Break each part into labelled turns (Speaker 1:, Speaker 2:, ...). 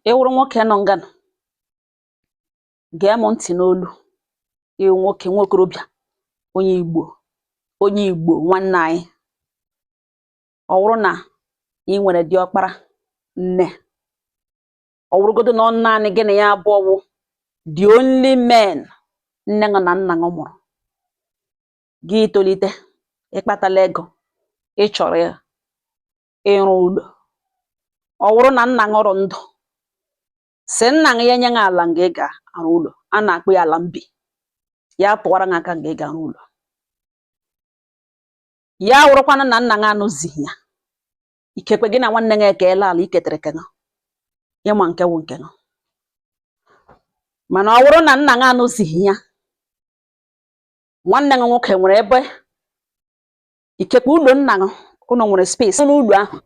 Speaker 1: ị wụrụ nwoke nọ nga nọ, gee m ntị n'olu ị wụ nwoke nwa okorobịa onye Igbo onye Igbo nwanne anyị ọ wụrụ na ị nwere diọkpara nne ọ wụrụgodu na ọ naanị gị na ya abụọ wụ the only men nne ṅụ na nna ṅụ mụrụ gị tolite ị kpatala ego ị chọrọ ya ịrụ ụlọ ọ wụrụ na nna ṅụ rụ ndụ sị nna ṅụ ya nye ṅụ ala nga ị ga-arụ ụlọ a na-akpọ ya ala mbi ya tụwara ṅụ aka nga ị ga-arụ ụlọ ya wụrụkwanụ na nna ṅụ anọzighị ya ikekwe gị na nwanne ṅụ ekeela ala i ketere ke ṅụ ị ma nke wụ nke ṅụ mana ọ wụrụ na nna ṅụ anọzighị ya nwanne ṅụ nwoke nwere ebe ikekwe ụlọ nna gị ụlọ nwere space n'ụlọ ahụ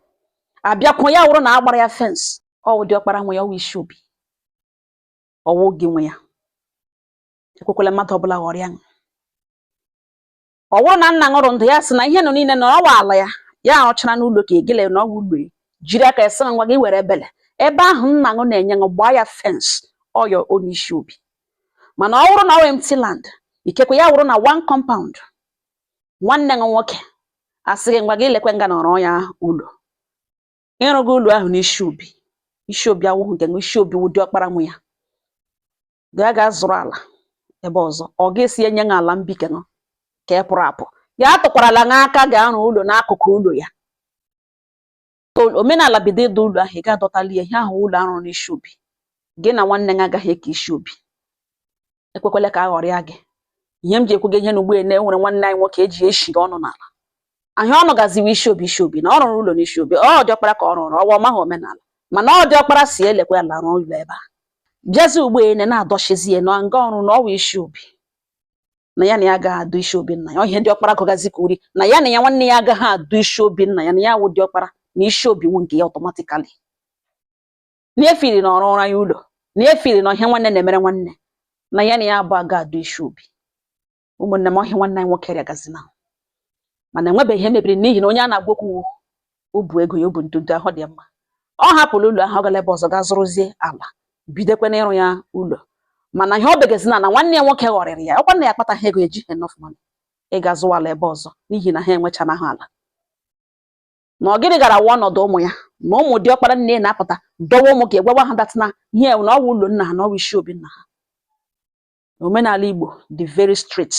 Speaker 1: abịakwụ ya wụrụ na a gbara ya fence ọ wụ diọkpara nwe ya ọ wụ isi obi ọ wụ gị nwe ya ekwekwala mmadụ ọbụla ghọrịa gị ọ wụrụ na nna ṅụ rụ ndụ ya sị na ihe nọ niile na ọ wụ ala ya ya arụchara n'ụlọ ka egele na ọ wụ ụlọ jiri aka ya sị ngwa gị were ebele ebe ahụ nna ṅụ na-enye ṅụ gbaa ya fence ọyọ onye isi obi mana ọ wụrụ na ọ empty land ikekwe ya wụrụ na one compound nwanne gị nwoke asị gị ngwa gị lekwe nga nọ rụọ ya ụlọ ị rụgo ụlọ ahụ n'isi obi isi obi awụghị nke ṅụ isi obi wụ diọkpara nwe ya gaa gaa zụrụ ala ebe ọzọ ọ ga-esi enye gị ala mbi ke ṅụ ka ị pụrụ apụ ya atụkwarala ṅụ aka ga-arụ ụlọ n'akụkụ ụlọ ya omenala bido ịdọ ụlọ ahụ ị ga-adọtali ya ihe ahụ ụlọ a rụrụ n'isi obi gị na nwanne gị agaghị eke isi obi ekwekwele ka a ghọrịa gị ihe m ji ekwu gị ihe na ugbo na e nwere nwanne anyị nwoke e ji eshi ọnụ n'ala ihe ọ nụgazi wụ isi obi isi obi na ọ rụrụ ụlọ n'isi obi ọ diọkpara ka ọ rụrụ ọ wụ ọ maghị omenala mana ọ diọkpara sị ya lekwe ala rụọ ụlọ ebe a bịazi ugbo ene na-adọchizi ya na nga ọ rụ na ọ wụ isi obi na ya na ya agaghị adọ isi obi nna ya ọ ihe diọkpara gụgazi ka uri na ya na ya nwanne ya agaghị adọ isi obi nna ya na ya wụ diọkpara na isi obi wụ nke ya automatically na efiri na ọ rụọra ya ụlọ na efiri na ọ ihe nwanne na-emere nwanne na ya na ya abụọ aga adọ isi obi ụmụnne m ọ ihe nwanne anyị nwoke rịagazina mana enwebeghị ihe mebiri n'ihi na onye a na-agwa okwu o bu ego ya o bu ntutu ahụ dị mma ọ hapụrụ ụlọ ahụ ọ gara ebe ọzọ gaa zụrụzie ala bidekwa n'ịrụ ya ụlọ mana ihe ọ begezi na na nwanne ya nwoke ghọrịrị ya ọkwa na ya akpataghị ego eji enough money ịga zụwa ala ebe ọzọ n'ihi na ha enwechanaghị ala na ọ gịnị gara awụ ọnọdụ ụmụ ya na ụmụ diọkpara nne na-apụta dọwa ụmụ ke ya gwawa ha that na ihe na ọ wụ ụlọ nna ha na ọ wụ isi obi nna ha omenala Igbo dị very strict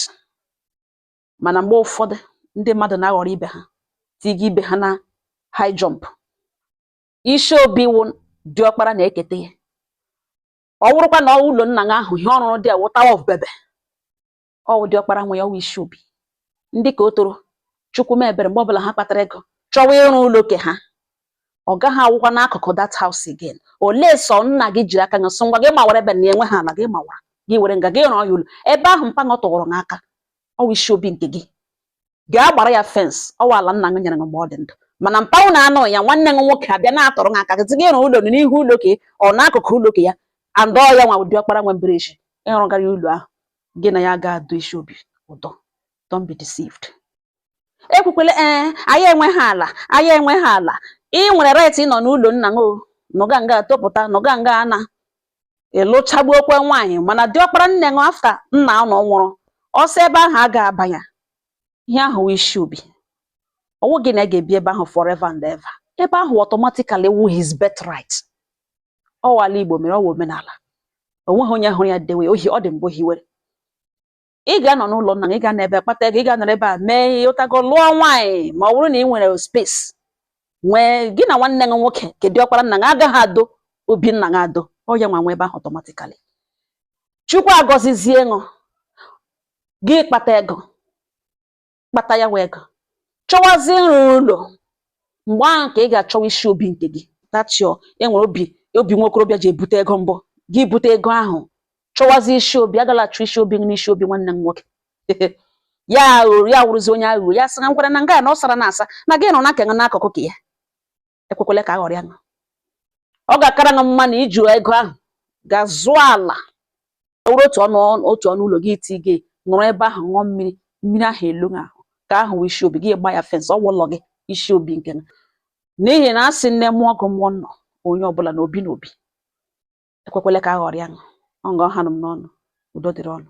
Speaker 1: mana mgbe ụfọdụ ndị mmadụ na-aghọrọ ibe ha tiga ibe ha na high jump isi obi wụ diọkpara na-eketa ya ọ wụrụkwa na ụlọ nna gị ahụ ihe ọ rụrụ dị awụ tower of babel ọwụ diọkpara nwe ya ọwụ isi obi ndị ka o toro chukwu m ebere mgbe ọbụla ha kpatara ego chọwa ịrụ ụlọ ke ha ọ gaghị awụkwa n'akụkụ that house again unless ọ nna gị jiri aka ya sị ngwa gị mawara ebe na enwe ha ala gị mawara gị were nga gị rụọ ya ụlọ ebe ahụ mpa ṅụ tụụrụ ṅụ aka ọwụ isi obi nke gị gaa gbara ya fence ọwụ ala nna gị nyere gị mgbe ọ dị ndụ mana mpa ṅụ na anọghị ya nwanne gị nwoke abịa na-atụrụ gị aka zi gị ịrụ ụlọ n'ihu ụlọ ke ọ n'akụkụ ụlọ ke ya and ọ ya nwa wụ diọkpara nwe mbere echi ị rụgara ya ụlọ ahụ gị na ya ga-adọ isi obi ụdọ don't be deceived ekwukwele ee anyị enweghị ala anyị enweghị ala ị nwere right ịnọ n'ụlọ nna ṅụ nọga nga topụta nọga nga ana ịlụchagbuokwa nwaanyị mana diọkpara nne ṅụ after nna ụnụ nwụrụ ọ sọ ebe ahụ a ga-abanye ihe ahụ wụ isi obi ọwụghị na ị ga-ebi ebe ahụ forever and ever ebe ahụ automatically wụ his birthright ọwụ ala igbo mere ọwụ omenala onweghị onye hụrụ ya dewe ohi ọ ndị mbụ hiwere ị ga-anọ n'ụlọ nna gị ị ga-anọ ebe kpata ego ị ga-anọrọ ebe a mee ihe ụtago lụọ nwaanyị ma ọ bụrụ na ị nwere space nwee gị na nwanne gị nwoke ke diọkpara nna gị agaghị adọ obi nna gị adọ ọ ya nwa nwe ebe ahụ automatically chukwu agọzizie ṅụ gị kpata ego kpata ya wee ego chọwazie nrụ ụlọ mgbe ahụ ka ị ga-achọwa isi obi nke gị tachio enwere obi nwa okorobịa ji ebute ego mbụ gị bute ego ahụ chọwazie isi obi agala achọ isi obi gị n'isi obi nwanne ṅụ nwoke ya wụrụzi onye aghụghọ ya sị na ngwara na nga na ọ sara na asa na gị rụọ nke ṅụ n'akụkụ ke ya ekwekwele ka aghọrịa gị ọ ga-akara gị mma na i ji ego ahụ gaa zụọ ala wụrụ otu ọnụ ụlọ gị iti gị nọrọ ebe ahụ ṅụọ mmiri mmiri ahụ eruo gị ahụ ke ahụ wụ isi obi gị gba ya fence ọwụ ụlọ gị isi obi nke ṅụ n'ihi na a sị nne mụọ gị mụọ ụnụ onye ọbụla na obi na obi ekwekwele ka aghọrịa gị ọ nga ọ hanụ m n'ọnụ udo dịrị ụnụ